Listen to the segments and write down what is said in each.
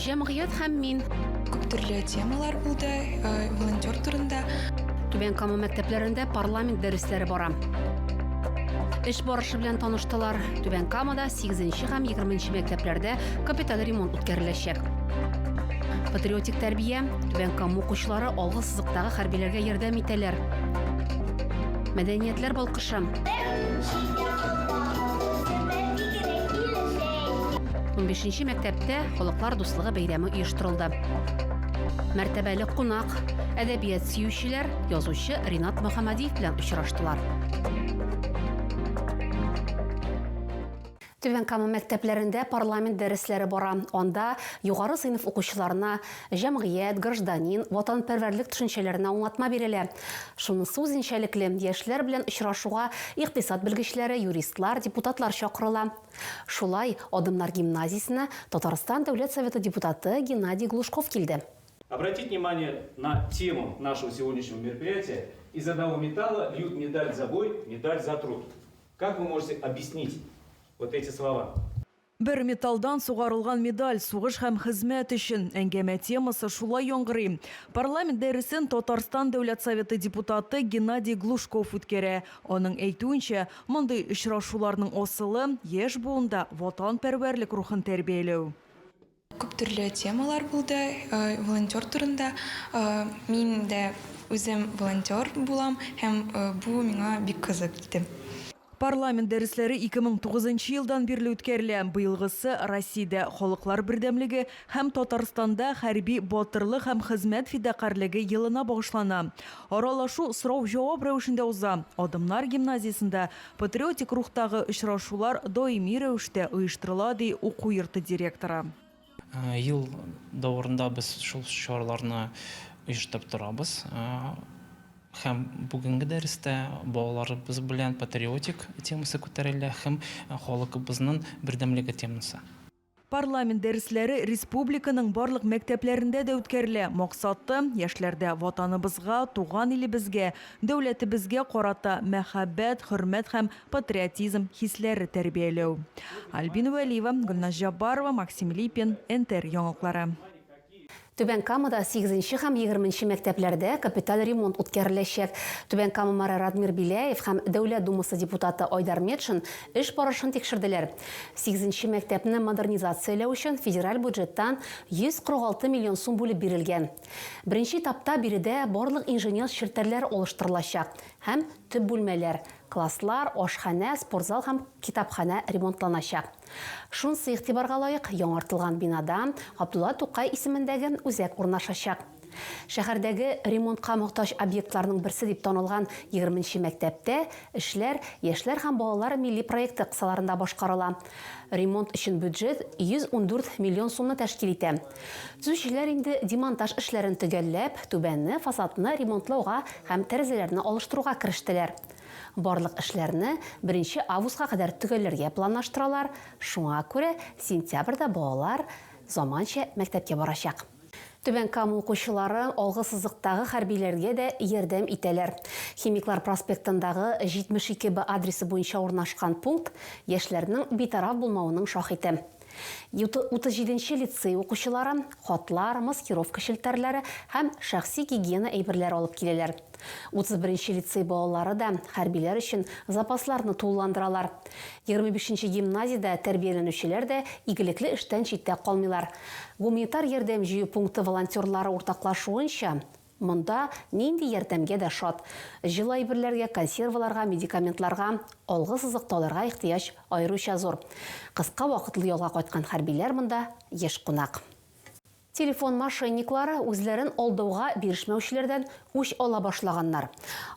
Җәмгыять һәм мин. Күп төрле темалар булды, э, волонтер турында. Түбән Кама мәктәпләрендә парламент дәресләре бара. Эш барышы белән таныштылар. Түбән Камада 8 һәм 20 мәктәпләрдә капиталь ремонт үткәреләчәк. Патриотик тәрбия, Түбән Кама укучылары алгы сызыктагы хәрбиләргә ярдәм итәләр. Мәдәниятләр балкыш Унбишенче мәктәптә халыклар дуслыгы бәйрәме оештырылды. Мәртәбәле кунак, әдәбият сөючеләр, язучы Ринат Мөхәммәдиев белән очраштылар. Түбән Кама мәктәпләрендә парламент дәресләре бара. Анда югары сыйныф укучыларына җәмгыять, гражданин, ватанпәрвәрлек төшенчәләренә аңлатма бирелә. Шунысы үзенчәлекле, яшьләр белән очрашуга икътисад белгечләре, юристлар, депутатлар чакырыла. Шулай, Адымнар гимназиясенә Татарстан Дәүләт Советы депутаты Геннадий Глушков килде. Обратить внимание на тему нашего сегодняшнего мероприятия Из одного металла льют медаль за бой, медаль за труд. Как вы можете объяснить вот эти слова? Бер металлдан сугарылган медаль, сугыш һәм хезмәт өчен. Әңгәмә темасы шулай яңгырый. Парламент дәресен Татарстан Дәүләт Советы депутаты Геннадий Глушков үткәрә. Аның әйтүенчә, мондый очрашуларның асылы, яшь буында ватанпәрвәрлек рухын тәрбияләү. Күп төрле темалар булды волонтер турында. Мин дә үзем волонтер булам һәм бу миңа бик кызык иде. Парламент дәресләре 2009 нчы елдан бирле үткәрелә. Быелгысы Россиядә Халыклар бердәмлеге һәм Татарстанда хәрби батырлык һәм хезмәт фидакарьлеге елына багышлана. Аралашу сорау-җавап рәвешендә уза. Адымнар гимназиясендә Патриотик рухтагы очрашулар даими рәвештә оештырыла, ди уку йорты директоры. Ел дәварында без шул чараларны оештырып торабыз. Һәм бүгенге дәрестә балаларыбыз белән патриотик темасы күтәрелә һәм халыкыбызның бердәмлеге темасы. Парламент дәресләре республиканың барлык мәктәпләрендә дә үткәрелә. Максаты, яшьләрдә Ватаныбызга, туган илебезгә, дәүләтебезгә карата мәхәббәт, хөрмәт һәм патриотизм хисләре тәрбияләү. Альбина Вәлиева, Гөлназ Җаббарова, Максим Липин, НТР яңалыклары. Түбән Камада сигезенче һәм егерменче мәктәпләрдә капиталь ремонт үткәреләчәк. Түбән Кама мэры Радмир Беляев һәм Дәүләт Думасы депутаты Айдар Метшин эш барышын тикшерделәр. Сигезенче мәктәпне модернизацияләү өчен федераль бюджеттан 146 миллион сум бүлеп бирелгән. Беренче этапта биредә барлык инженер челтәрләр алыштырылачак һәм төп бүлмәләр, класслар, ашханә, спортзал һәм китапханә ремонтланачак. Шунысы игътибарга лаек, яңартылган бинада Габдулла Тукай исемендәге үзәк урнашачак. Шәһәрдәге ремонтка мохтаҗ объектларның берсе дип танылган егерме нче мәктәптә эшләр Яшьләр һәм балалар милли проекты кысаларында башкарыла. Ремонт өчен бюджет 114 миллион сумны тәшкил итә. Төзүчеләр инде демонтаж эшләрен төгәлләп, түбәнне, фасадны ремонтлауга һәм тәрәзәләрне алыштыруга керештеләр. Барлык эшләрне беренче августка кадәр төгәлләргә планлаштыралар, шуңа күрә сентябрьдә балалар заманча мәктәпкә барачак. Түбән Кама укучылары алгы сызыктагы хәрбиләргә дә ярдәм итәләр. Химиклар проспектындагы 72 Б адресы буенча урнашкан пункт яшьләрнең битараф булмавының шаһите. Утыз җиденче лицей укучылары хатлар, маскировка челтәрләре һәм шәхси гигиена әйберләре алып киләләр. Утыз беренче лицей балалары да хәрбиләр өчен запасларны тулыландыралар. Егерме бишенче гимназиядә тәрбияләнүчеләр дә игелекле эштән читтә калмыйлар. Гуманитар ярдәм җыю пункты волонтерлары уртаклашуынча, Монда нинди ярдәмгә дә шат. Җылы әйберләргә, консерваларга, медикаментларга, алгы сызыктауларга ихтыяҗ аеруча зур. Кыска вакытлы ялга кайткан хәрбиләр монда еш кунак. Телефон мошенниклары үзләрен алдауга бирешмәүчеләрдән үч ала башлаганнар.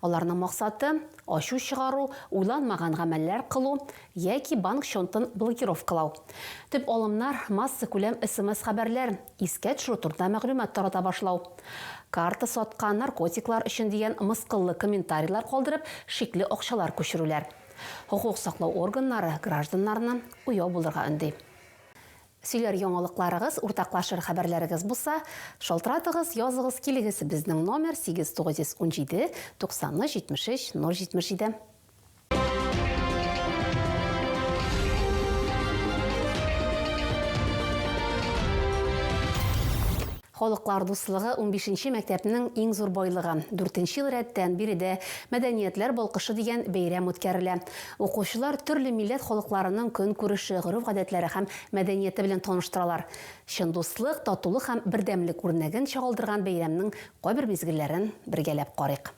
Аларның максаты, ачу чыгару, уйланмаган гамәлләр кылу, яки банк счёнтын блокировкалау. Төп алымнар, массакүләм смс-хәбәрләр, искә төшерү турында мәгълүмат тарата башлау. Карта саткан, наркотиклар өчен дигән мыскыллы комментарийлар калдырып, шикле акчалар күчерүләр. Хокук саклау органнары гражданнарны уяу булырга өнди. Сөйләр яңалыкларыгыз, уртаклашыр хәбәрләрегез булса, шалтыратыгыз, языгыз килегез, безнең номер, 8 917 93 73 077. Халыклар дуслыгы унбишенче мәктәпнең иң зур байлыгы. Дүртенче ел рәттән биредә Мәдәниятләр балкышы дигән бәйрәм үткәрелә. Укучылар төрле милләт халыкларының көнкүреше, гореф-гадәтләре һәм мәдәнияте белән таныштыралар. Чын дуслык, татулык һәм бердәмлек үрнәген чагылдырган бәйрәмнең кайбер мизгелләрен бергәләп карыйк.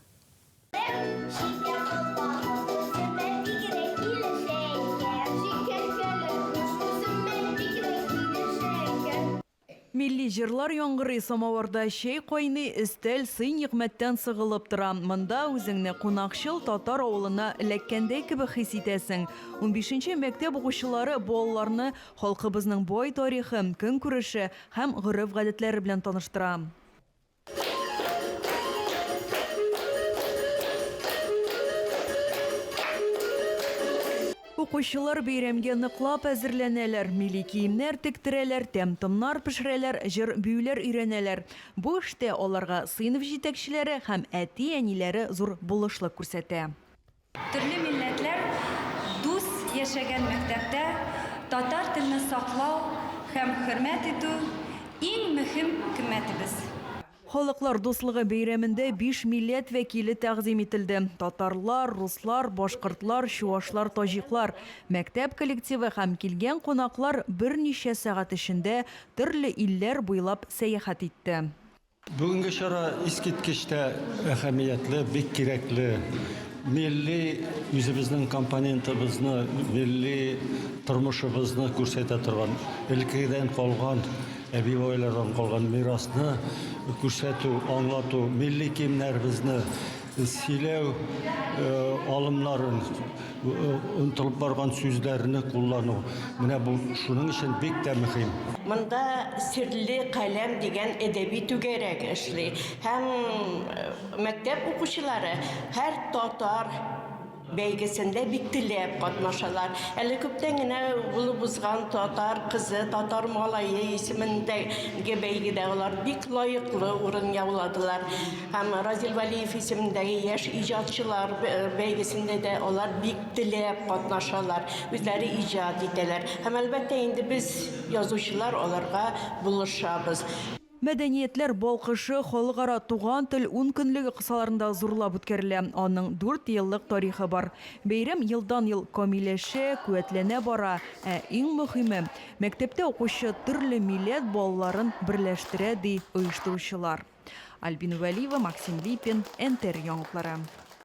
Милли җырлар яңгырый, самавырда чәй кайный, өстәл сый-нигъмәттән сыгылып тора. Монда үзеңне кунакчыл татар авылына эләккәндәй кебек хис итәсең. Унбишенче мәктәп укучылары балаларны халкыбызның бай тарихы, көнкүреше һәм гореф-гадәтләре белән таныштыра. Укучылар бәйрәмгә ныклап әзерләнәләр, милли киемнәр тектерәләр, тәм-томнар пешерәләр, җыр-биюләр өйрәнәләр. Бу эштә аларга сыйныф җитәкчеләре һәм әти-әниләре зур булышлык күрсәтә. Төрле милләтләр дус яшәгән мәктәптә татар телне саклау һәм хөрмәт итү, иң мөһим кыйммәтебез. Халыклар дуслыгы бәйрәмендә биш милләт вәкиле тәкъдим ителде, татарлар, руслар, башкортлар, чуашлар, таҗиклар. Мәктәп коллективы һәм килгән кунаклар берничә сәгать эчендә төрле илләр буйлап сәяхәт итте. Бүгенге чара искиткеч тә әһәмиятле, бик кирәкле. Милли үзебезнең компонентыбызны, милли тормышыбызны күрсәтә торган, элеккедән калган, әби-бабайлардан калган мирасны күрсәтү, аңлату, милли киемнәребезне, Сөйләү алымнары, онытылып барган сүзләрне куллану. Менә бу шуның өчен бик тә мөһим. Монда Серле каләм дигән әдәби түгәрәк эшли һәм мәктәп укучылары һәр татар бәйгесендә бик теләп катнашалар. Әле күптән генә булып узган татар кызы, татар малае исемендәге бәйгедә алар бик лаеклы урын яуладылар. Һәм Разил Валиев исемендәге яшь иҗатчылар бәйгесендә дә алар бик теләп катнашалар, үзләре иҗат итәләр. Һәм әлбәттә инде без язучылар аларга булышабыз. Мәдәниятләр балкышы Халыкара туган тел ункөнлеге кысаларында зурлап үткәрелә. Аның дүрт еллык тарихы бар. Бәйрәм елдан-ел камилләшә, куәтләнә бара. Ә иң мөһиме, мәктәптә укучы төрле милләт балаларын берләштерә, ди оештыручылар. Альбина Вәлиева, Максим Липин, НТР яңалыклары.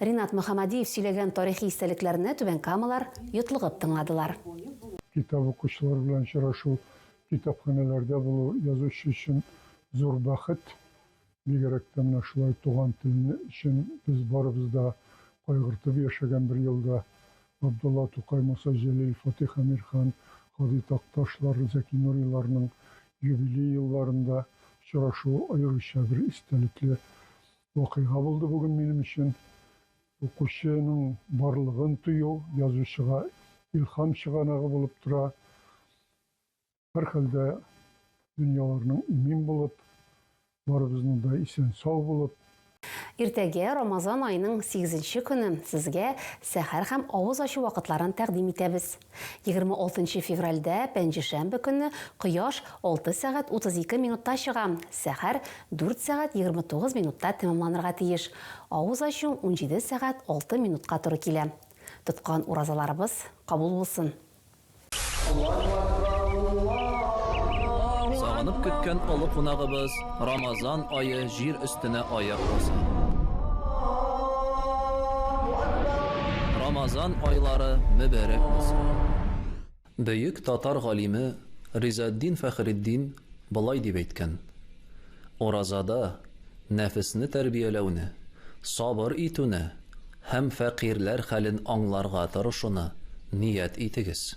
Ринат Мөхәммадиев сөйләгән тарихи истәлекләрне түбәнкамалар йотлыгып тыңладылар. Китап укучылар белән очрашу, китапханәләрдә булу, язучы өчен зур бәхет. Бигрәк тә менә шулай туган телне өчен без барыбыз да кайгыртып яшәгән бер елда, Габдулла Тукай, Муса Җәлил, Фатих Әмирхан, Һади Такташлар, Зәки Нуриларның юбилей елларында очрашу аеруча бер истәлекле Вакыйга булды бүген минем өчен. Укучының барлыгын тою язучыга илһам чыганагы булып тора. Һәрхәлдә, дөньяларның имин булып, барыбызның да исән-сау булып. Иртәгә, Рамазан аеның сигезенче көне, сезгә сәхәр һәм авыз ачу вакытларын тәкъдим итәбез. Егерме алтынчы февральдә, пәнҗешәмбе көнне, кояш алты сәгать утыз ике минутта чыга, сәхәр дүрт сәгать егерме тугыз минутта тәмамланырга тиеш. Авыз ачу унҗиде сәгать алты минутка туры килә. Тоткан уразаларыбыз кабул булсын! Сагынып көткән олы кунагыбыз Рамазан ае җир өстенә аяк баса. Рамазан айлары мөбәрәк булсын! Бөек татар галиме Ризаэтдин Фәхретдин болай дип әйткән, Уразада нәфесне тәрбияләүне, сабыр итүне һәм фәкыйрьләр хәлен аңларга тырышуны ният итегез.